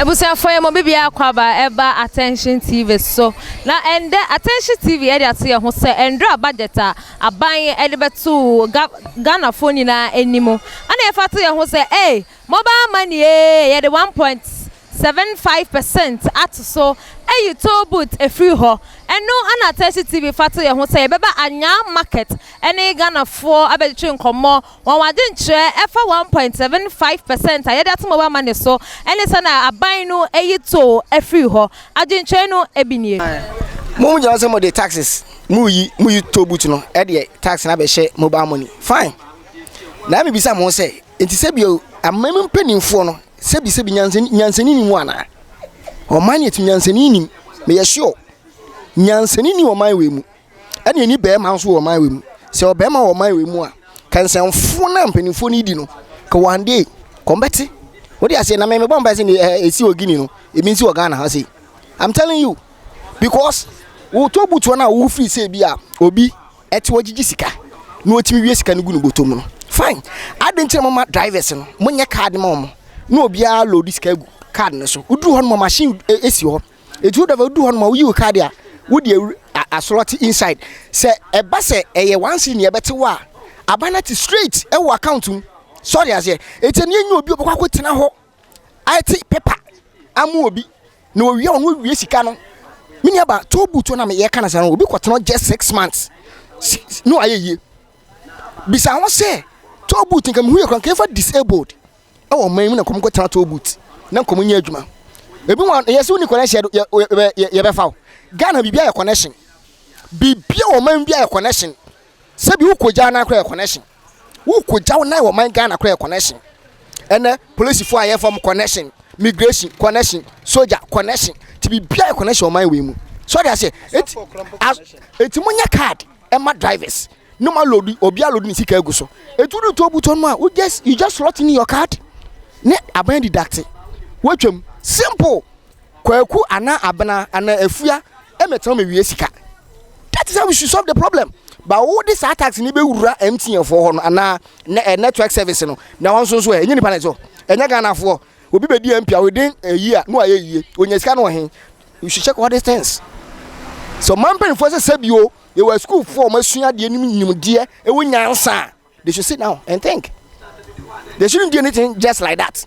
abusuafoɔ yɛ mo bibia kwaba ɛba attention tv so na ɛndɛ attention tv ɛde ato yɛ ho sɛ ɛndra budget a aban ɛde bɛto ga ghanafoɔ nyinaa anim ɛna yɛfa to yɛ ho sɛ ee mobile money ee yɛde one point Seven five percent ato so ayi toll booth afiri hɔ. Ɛno na Tɛsi TV fa to yɛn ho sɛ yɛbɛba Anyang market ne Ghanafoɔ abɛtwetwe nkɔmmɔ, wɔn adwenkyerɛ ɛfa one point seven five percent a yɛde ato mobile money so ne sɛnea aban no ayi toll afiri hɔ adwenkyerɛ no bi nie. Mo mo gyina hɔ sɛ mo de taxes mo reyi mo yi toll booth no ɛdeɛ tax no abɛhyɛ mobile money fine. Na me bisa mo ho sɛ nti sɛ bio aman mu mpaninfoɔ no Sɛbi sɛbi nyansani nyansani ni mu anaa? Ɔman ni ɛti nyansani ni mu yɛ sure. Nyansani ni ɔman wei mu. Ɛna ɛni bɛrima nso wɔ ɔman wei mu. Sɛ ɔbɛrima wɔ ɔman wei mu a, kansɛnfoɔ na mpanimfoɔ ni di no. Ka one day, kɔn bɛte. Wode aseɛ na mɛmɛ bɔn pɛsɛ ni ɛsi wɔ Guinea no, ɛmi nsi wɔ Ghana ha sei. I'm telling you, because wotɔ butuo na wofiri sɛ bi a, obi. ɛte ɔgyegye sika na ɔtumi wie sika no gu ne bɔtɔ mu no fine adɛn nti na moma drivers no monyɛ card ma wɔn na obiara load sika gu card no so woduru hɔ no ma machine esi hɔ ɛti wo driver woduru hɔ no ma woyi wo card a wode asorɔte inside sɛ ɛba sɛ ɛyɛ one city ne ɛbɛte wo a aba no te straight ɛwɔ account mu sɔre aseɛ ɛti ɛneɛ nyɛ obi ɔbɛkɔ akɔtena hɔ Ayɛtse paper ama obi na owie a ɔno owie sika no. Me nua ba tow boot na me yɛka no saa no obi kɔtena hɔ just six months na ɔayɛ yie. Bisa ho sɛ tow boot nka mehu yɛ kora nka yɛmfa disabled ɛwɔ ɔman mu na nkɔm kɔtena tow boot na nkɔm nyɛ adwuma. Ebi wɔn yɛ sɛ woni connection yɛ yɛ yɛbɛfa o. Ghana biribi ayɛ connection. Biribi a ɔman bi ayɛ connection sɛbi wokɔgyaa nan koraa yɛ connection wokɔgya wo nan wɔ man Ghana koraa yɛ connection ɛnɛ polisifoɔ a yɛfa mu connection migration connection soja connection ti bibia yɛ connection wɔ man wei mu sɔde aseɛ eti as eti mo nyɛ card ɛma drivers no ma load obi a load ne sika egu so etu do to buton mu a wo just you just slot in your card ne aban deduct wotwam simple. Kwaku anaa Abena anaa Afua mɛtena hɔ mɛwia sika. That is how we should solve the problem. Ba wo de saa tax ni bɛwura MTN foɔ hɔ no anaa eh, network service no na wɔn nso nso ɛ, eh, ɛnyɛ nipa na ɛsɛ hɔ, ɛnyɛ Ghana foɔ. Obi bɛdi MP a within a year no ayɛ yie, onya sika no ɔhen. You should check all these things. So ɔman mpanimfoɔ sɛ sɛbio yɛwɔ asukuufoɔ a wɔasua adeɛ nim nimdeɛ ɛwɔ nyansa a They should sit down and think. They shouldn't do anything just like that.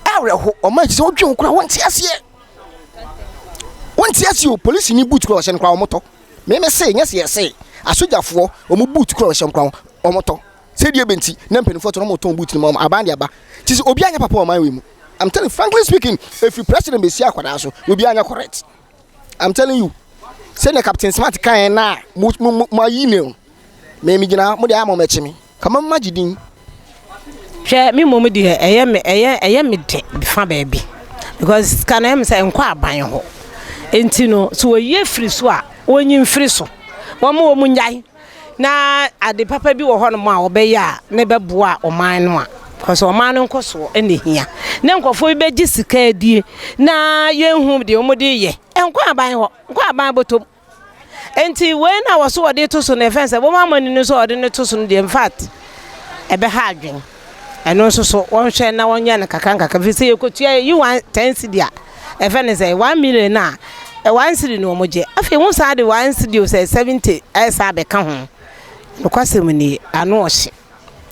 Awerɛho, ɔma ɛsɛ sɛ wodwen ho koraa, wɔnte aseɛ. Wɔnte aseɛ o, polisi ni boot koraa ɔhyɛ no koraa wɔtɔ. Meme se, nyɛ se yɛse, asogyafoɔ, wɔn boot koraa ɔhyɛ koraa wɔtɔ. Sɛdeɛ ɛbɛ nti, na mpanimfoɔ tɔ na wɔtɔn boot no ma wɔn, aban de aba. Ti sɛ, obi anyɛ papa wɔ ɔman wei mu. I'm telling you, frankly speaking, ɛfiri president bɛsi akwadaa so, obi anyɛ correct. I'm telling you sɛnea captain smart kaeɛ no a moayi ne no me megyina ha mode ayɛ ma mɛkye me kama magye din hwɛ me mmom deɛ ɛyɛ me ɛyɛ ɛyɛ me de fa baabi because sika no ɛm sɛ nkɔ aban hɔ nti no so wɔyie firi so a wɔnyi mfiri so wɔn wɔn nyae na ade papa bi wɔ hɔnom a wɔbɛyɛ a ne bɛboa ɔman no a kɔsɛ ɔman no nkɔsoɔ ɛna hia ne nkɔfoɔ bi bɛgye sika adie na yɛnhu deɛ wɔn de yɛ ɛnkɔ aban hɔ nkɔ aban bɔtɔm nti wei na wɔso wɔde to so na ɛfɛn sɛ wɔn amani no nso wɔde no to so no deɛ in fact ɛbɛha adwene. Ɛno nso so wɔnhwɛ na wɔnyɛ no kakrankakra firi sɛ yɛkɔtua yɛyi one ten cedi a ɛfɛ ne sɛ one million no a one cedi na wɔn gye afei wɔn san de one cedi o sɛ seventy ɛsan bɛka ho nokwasɛm nie ano ɔhye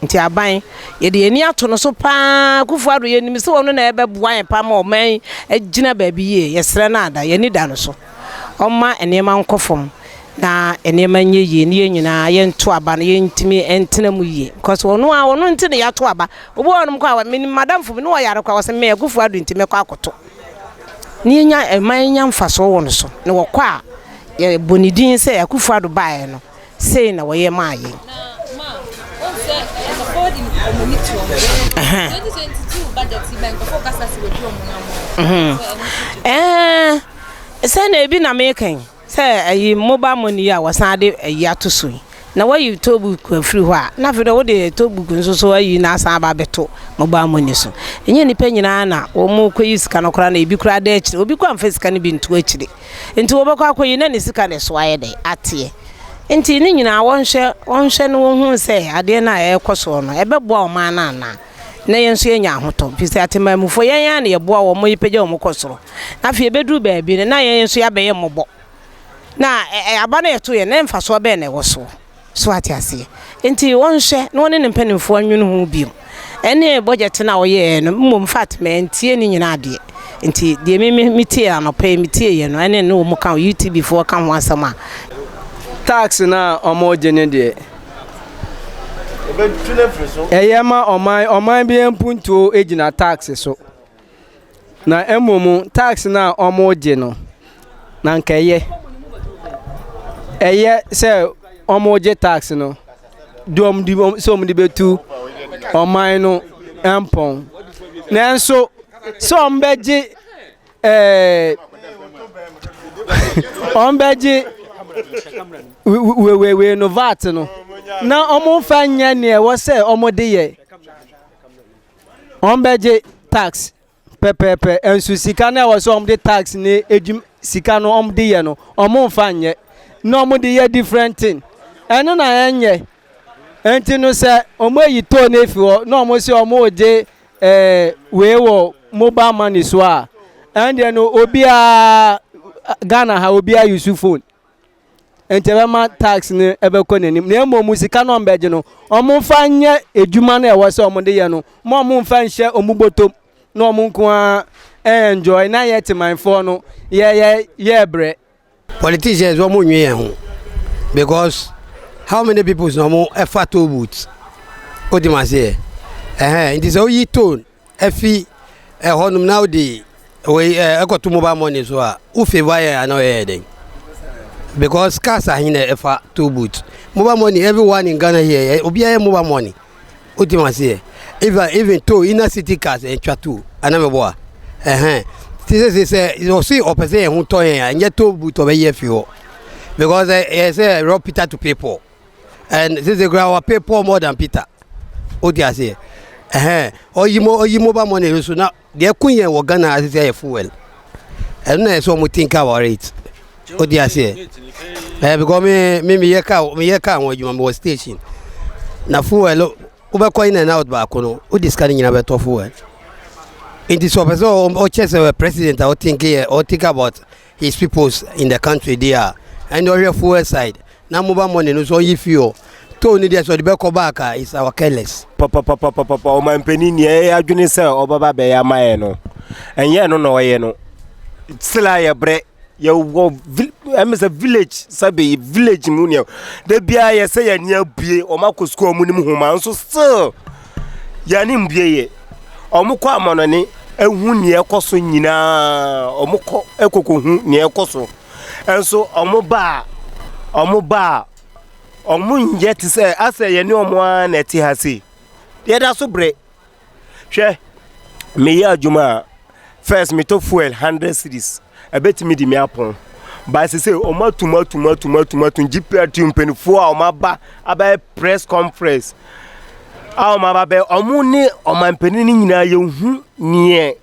nti aban yɛde yɛn ani ato no so paa Akufo Addo yɛnim sɛ wɔn na ɛbɛboa yɛn paa ma ɔman yi agyina baabi yie yɛsrɛ no ada yɛn ani da no so wɔma nneɛma nkɔ fam. na nneɛma nyɛ yie ne yɛn nyinaa yɛnto aba no yɛntumi ntena mu yie because ɔno a ɔno nti na yɛato aba obi wɔ hɔnom kɔ a menim madamfo bi ne ɔyare kɔ a wɔsɛ me akufo ado nti mɛkɔ akɔto ne yɛnya ɛma yɛnya mfasoɔ wɔ no so na wɔkɔ a yɛbɔ ne din sɛ akufo ado baeɛ no sei na wɔyɛ maa yɛn ɛɛ sɛ na ebi na mekan Sɛ ayi mobile money yi a wɔsan de ayi ato so yi na wayi tollbook afiri hɔ a na afei deɛ wode tollbook nso so ayi na asan aba abɛto mobile money so ɛnyɛ nnipa nyinaa na wɔn kɔyi sika no koraa na ebi koraa da akyire obi kɔ amfa sika no bi nto akyire nti wɔbɛkɔ akɔyi na ne sika no so ayɛ dɛ ateɛ nti ne nyinaa wɔnhwɛ wɔnhwɛ no wɔhu sɛ adeɛ no a ɛrekɔ soɔ no ɛbɛboa wɔn anaa anaa. na yɛn nso yɛnya ahotɔ firi sɛ atemammufoɔ yɛn ara na yɛboa wɔn ma yɛpagya wɔn kɔ soro na afei ɛbɛduru baabi no na yɛn nso yɛabɛyɛ mmɔbɔ na aba no yɛto yɛn na mfasoɔ bɛn na ɛwɔ soɔ so ate aseɛ nti wɔnhwɛ na wɔne ne mpanimfoɔ nwene ho bio ɛne bɔgyɛte no a wɔyɛɛ no mmom fat mantie ne nyinaa adeɛ nti deɛ me me metie anɔpɛ yi metie yɛ no ɛne ne wɔn ka UTB foɔ ka ho asɛm a tax no a wɔregye no deɛ Ɛyɛ ma ɔman ɔman biara mpuntuo gyina tax so. Na mmom tax no a wɔregye no, na anka ɛyɛ ɛyɛ sɛ wɔregye tax no de wɔn de wɔn sɛ wɔde bɛtu ɔman no mpɔn. Nanso sɛ wɔbɛgye. Ɛɛ wɔn bɛgye wewewee no vat no na wɔn nfa nyɛ nea ɛwɔ sɛ wɔn de yɛ wɔn bɛgye tax pɛpɛɛpɛ nso sika no a ɛwɔ sɛ wɔn de tax ne edwum sika no wɔn de yɛ no wɔn nfa nyɛ na wɔn de yɛ different thing ɛno na ɛnyɛ nti no sɛ wɔn ayi toll no efi hɔ na wɔn sɛ wɔn regye eh, wei wɔ mobile money so a ɛndeɛ no obiara Ghana ha obiara use phone nti ɛbɛma tax no ɛbɛkɔ n'anim na mmom sika no ɔmbɛgye no ɔmo mfa nyɛ adwuma no ɛwɔ sɛ ɔmo de yɛ no mo ɔmo mfa nhyɛ ɔmo bɔtɔm na ɔmo nko ara ɛnjoy na yɛ temanfoɔ no yɛ yɛ yɛ brɛ Politicians wɔn nwi yɛn ho because how many people na wɔn ɛfa toll booth o ti ma seɛ ɛhɛn nti sɛ oyi toll ɛfi ɛhɔ nom na ɔde wei ɛɛ ɛkɔto mobile money so a o favour yɛ ana ɔyɛ yɛ dɛn because cars ahe na ɛfa toll booth mobile money everyone in Ghana here obiara yɛ mobile money. o ti ma se yɛ even even to inner city cars ẹ twa to ana mẹ bọ a ẹhẹn ti sẹ sẹ sẹ ọsẹ ọpẹ sẹ ẹhun tọ yẹn a ẹnyẹ to bu tọ bẹ yẹ fi họ because ẹ ẹ sẹ rọ peter to pay paul and sẹ sẹ kura wa pay paul more than peter o ti ase yẹ ẹhẹn ọyi mo ọyi mobile money so na. Deɛ ɛko yɛn wɔ Ghana ha sisi ayɛ fuel. Ɛno na ɛsɛ wɔn think our rate. O di aseɛ. Ɛɛ because me me me yɛ car me yɛ car ho adwuma me wɔ station. Na fuel wobɛkɔ in and out baako no o di sika ne nyinaa bɛtɔ fuel. Nti sɛ ɔpɛ sɛ ɔkyɛ sɛ president a ɔtink yɛ ɔtink about His peoples in the country they are ɛne ɔhwɛ fuel side na mobile money no so ɔnyi fuel toll ne deɛ sɛ ɔde bɛkɔ back a is our careless. Papapapapapa ɔmanpanin nea ɛyɛ adwene sɛ ɔbɛba bɛyɛ ama yɛn no ɛnyɛ ɛno na ɔyɛ no still a yɛbrɛ yɛwɔ ɛmɛ sɛ village sɛbi village mu nea da biara yɛsɛ yɛn ani abue wɔn akɔ sukuu wɔn nim homa nso still. Yɛanim deɛ yɛ. Wɔkɔ amannɔne hu deɛ ɛrekɔ so nyinaa. Wɔkɔ kɔkɔhu deɛ ɛrekɔ so. Nso wɔba a, wɔba a, wɔnyɛ te sɛ, ayɛ sɛ yɛne wɔn ara na ɛte ha sei. Yɛda so brɛ. Hwɛ, meyɛ adwuma a, First metɔ fuel hundred cedis ɛbɛtumi de me apɔn but sese wɔn atum atum atum atum atum GPRT mpanimfoɔ a wɔn aba abɛyɛ press conference a wɔn aba bɛ wɔn ne ɔman panin no nyinaa yɛhu neɛ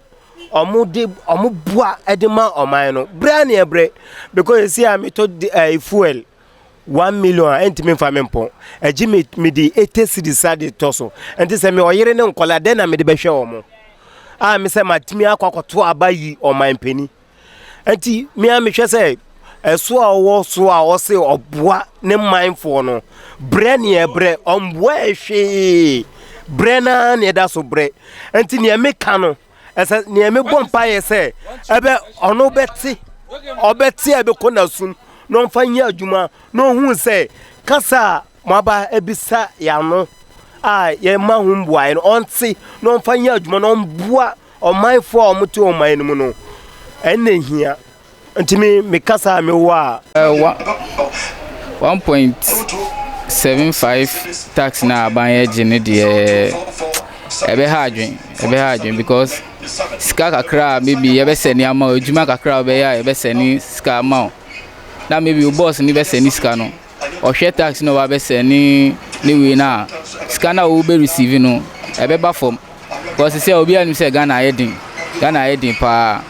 wɔn de wɔn boa de ma ɔman no brɛ neɛ brɛ because sese a metɔ de ɛɛ fuel. one million a ɛntumi mfa me mpɔn agye me mede eighty cities a de tɔ so ɛnti sɛ me ɔyere ne nkɔla dɛn na mede bɛhwɛ wɔn a me sɛ matumi akɔ akɔto aba yi ɔman mpanin ɛnti me a mehwɛ sɛ ɛso a ɔwɔ so a ɔse ɔboa ne manfoɔ no brɛ ne ɛbrɛ ɔmboa ɛhwee brɛ na ne ɛda so brɛ ɛnti nea meka no ɛsɛ nea mebɔ mpaeɛ sɛ ɛbɛ ɔno bɛte ɔbɛte a ɛbɛkɔ n'asom na ɔmfa nyɛ adwuma na ɔhu sɛ kasa a moaba abisa yɛano a yɛma ho mbuaeɛ no ɔnte na ɔmfa nyɛ adwuma na ɔmboa ɔmanfoɔ a wɔte ɔman no mu no ɛnna hia Nti me me kasa a mewɔ a. Uh, one point seven five tax na aban yɛ gye no deɛ ɛbɛha adwen ɛbɛha adwen because sika kakra a maybe yɛbɛsɛne ama o adwuma kakra a wobɛyɛ a yɛbɛsɛne sika ama o na maybe wo boss ne bɛsɛne sika no ɔhwɛ tax na ɔba bɛsɛ ne ne wei na sika na ɔwɔ bɛ receive no ɛbɛba fam because sɛ obi anim sɛ Ghana ayɛ den Ghana ayɛ den paa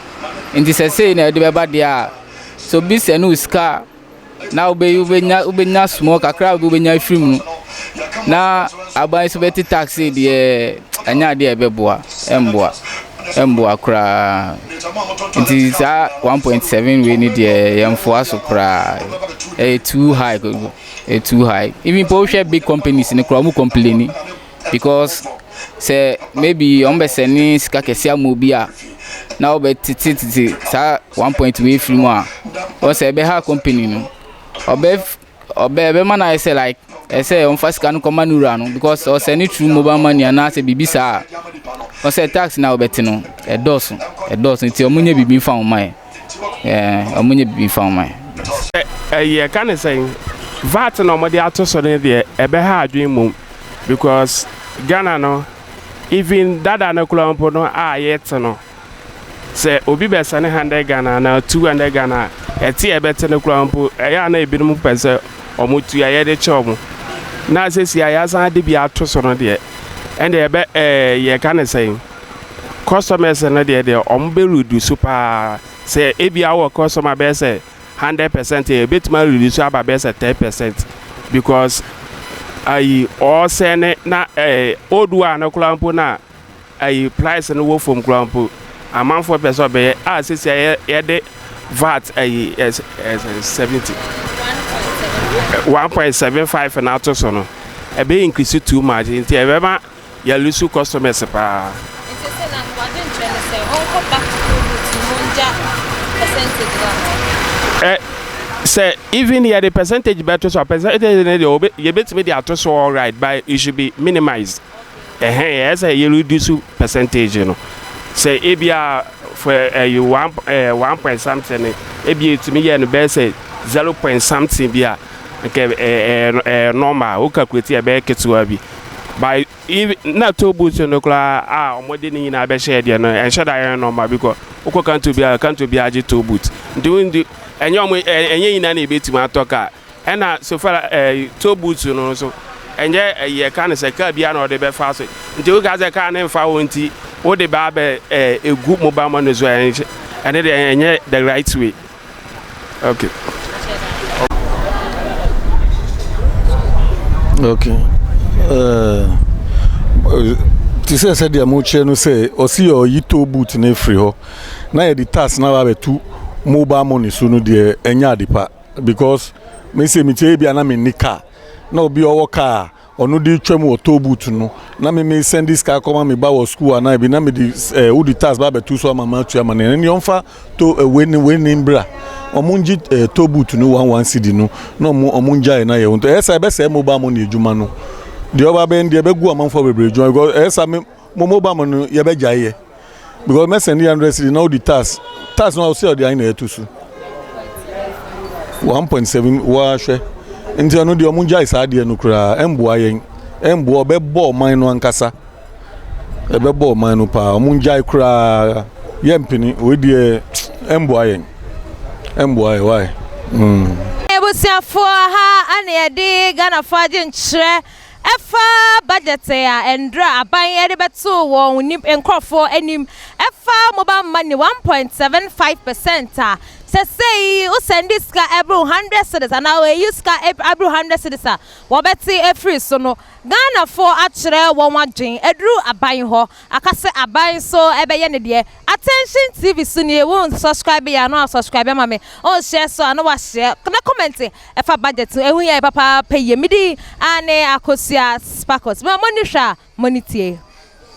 nti sɛ sei na ɛde bɛba deɛ a so bi sɛ no sika na wobɛ wobɛnya wobɛnya small kakra bi wobɛnya afiri mu no na aban so bɛte tax deɛ ɛnyɛ adeɛ ɛbɛboa ɛmboa. ɛmboa koraa nti saa one point seven wei ni deɛ yɛnfoa so koraa ɛyɛ too high ɛyɛ too high even po wohwɛ big companies no koraa wɔn complaini because sɛ maybe wɔn bɛ sɛ ne sika kɛse ama obi a na wɔbɛ tete tete saa one point wei firi mu a wɔn sɛ ɛbɛ ha company no ɔbɛ. Ɔbɛ ɛbɛma no ayɛ sɛ like ɛsɛ sɛ ɔmfa sika no kɔma ne wura no because ɔsɛ ne true mobile money anaasɛ biribi saa a ɔsɛ tax na ɔbɛte no ɛdɔɔso ɛdɔɔso nti ɔmo nyɛ biribi nfa ɔmo ayɛ ɛɛ ɔmo nyɛ biribi nfa ɔmo ayɛ. Ɛyi ɛka ne sɛn? Vat na ɔmo de ato so no deɛ ɛbɛha adwene mmom because Ghana no even dada no koraa mpo no a yɛte no. Sɛ obi bɛsɛne hundred Ghana anaa two hundred Ghana a, ɛte a ɛbɛte no koraa mpo, ɛyɛ a na ebinom pɛ sɛ wɔtua yɛde kyɛ wɔn. Na sɛsi a yɛasan ade bi ato so no deɛ, ɛnde ɛbɛ ɛɛ yɛka ne sɛn? Customers no deɛ deɛ wɔn bɛ reduce paa. Sɛ ebi awɔ customer bɛyɛ sɛ hundred percent a, ebetumi a reduce aba bɛyɛ sɛ ten percent because ayi ɔɔsɛne na ɛɛ old one no koraa mpo na ayi praese no wɔ fam koraa mpo, amanfoɔ pɛ sɛ ɔbɛyɛ a sɛsi a yɛde vat ayi seventy one point seven five na ato so no ɛbɛyɛ increase too much nti ɛbɛma yɛlusu customers paa. nti sɛ na wade nkyerɛ no sɛ ɔnkɔ back to the root no mu ngya percentage no ɛ sɛ even yɛde percentage bɛto so a percentage no deɛ yɛbɛtumi de ato so alright but it should be minimized. ɛhɛn yɛ sɛ yɛ reduce percentage no sɛ ebi a for ɛyɛ one ɛɛ one point something no ebi etumi yɛ no bɛyɛ sɛ zero point something bi a nkɛ ɛɛ ɛɛ normal o calculate yɛ bɛyɛ ketewa bi by if na toll booth no koraa a wɔn de ne nyinaa bɛhyɛ deɛ no ɛnhyɛ da yɛ normal bi kɔ wokɔ kanto bi a kanto bi agye toll booth nti wɔn di ɛnyɛ wɔn ɛnyɛ nyinaa na ebetumi atɔ kaa. Ɛna sofar ɛɛ tow booth no nso ɛnyɛ ɛyi ɛka no sɛ car biara na ɔde bɛfa so nti woka sɛ car no nfa hɔ nti wode baa bɛ ɛɛ egu mobile money so ɛnhyɛ ɛne deɛ ɛnyɛ the right way okay. Okay. Uh, te sɛ sɛdeɛ mokyerɛ no sɛ ɔsi yɛ ɔyi tow boot no afiri hɔ na yɛde tax no aba abɛto mobile money so no deɛ ɛnyɛ ade pa Because me sɛ mekyɛ ebi a na menni car na obi a ɔwɔ car a ɔno de twa mu wɔ toll booth no na me me send sika akɔma me ba wɔ school anaa ebi na me de eh, wode tax ba abɛto so ama ma atua ma ne ɛne ɔmfa to eh, wei ne wei ne mbra ɔmo ngye eh, toll booth no one one cedi no na ɔmo ɔmo ngyae na yɛ ɛyɛ sa ɛbɛsɛe mobile money adwuma no deɛ ɔba bɛn deɛ ɛbɛgu amanfoɔ bebree adwuma because ɛyɛ sa me Mo mo ba mo no yɛ bɛ gyae yɛ because mɛ sɛn de hundred city na odi tax tax no a ɔsɛ ɔde ayi na ɛto so one point seven wɔahwɛ nti ɛno deɛ ɔmo gyae saa adeɛ no koraa ɛmboa yɛn ɛmboa ɔbɛbɔ ɔman no ankasa ɛbɛbɔ ɔman no paa ɔmo gyae koraa yɛ mpene wei deɛ ɛmboa yɛn ɛmboa yɛ wae. Mm. abusuafoɔ ha ana yɛde ghanafoɔ agye nkyerɛ Ɛfa budget a ɛndra aban ɛde bɛto wɔn nip nkorɔfoɔ anim ɛfa mobile money one point seven five percent a sɛsɛyi wo sɛndi sika ɛboro hundred cedis anaa wo ɛyi sika aboro hundred cedis a wɔbɛte afiri so no Ghanafoɔ akyerɛ wɔn adwen aduru aban hɔ Aka sɛ aban nso bɛyɛ ne deɛ. Attention TV so nie wo nsubscribe yɛ a na wa subscribe ama me wo nhyɛ so a na wa hyɛ na comment ɛfa budget ho ɛho hia yɛ papaapa yie me din aane Akosua Sparkles mo a mo nni hwɛ a mo ani tie.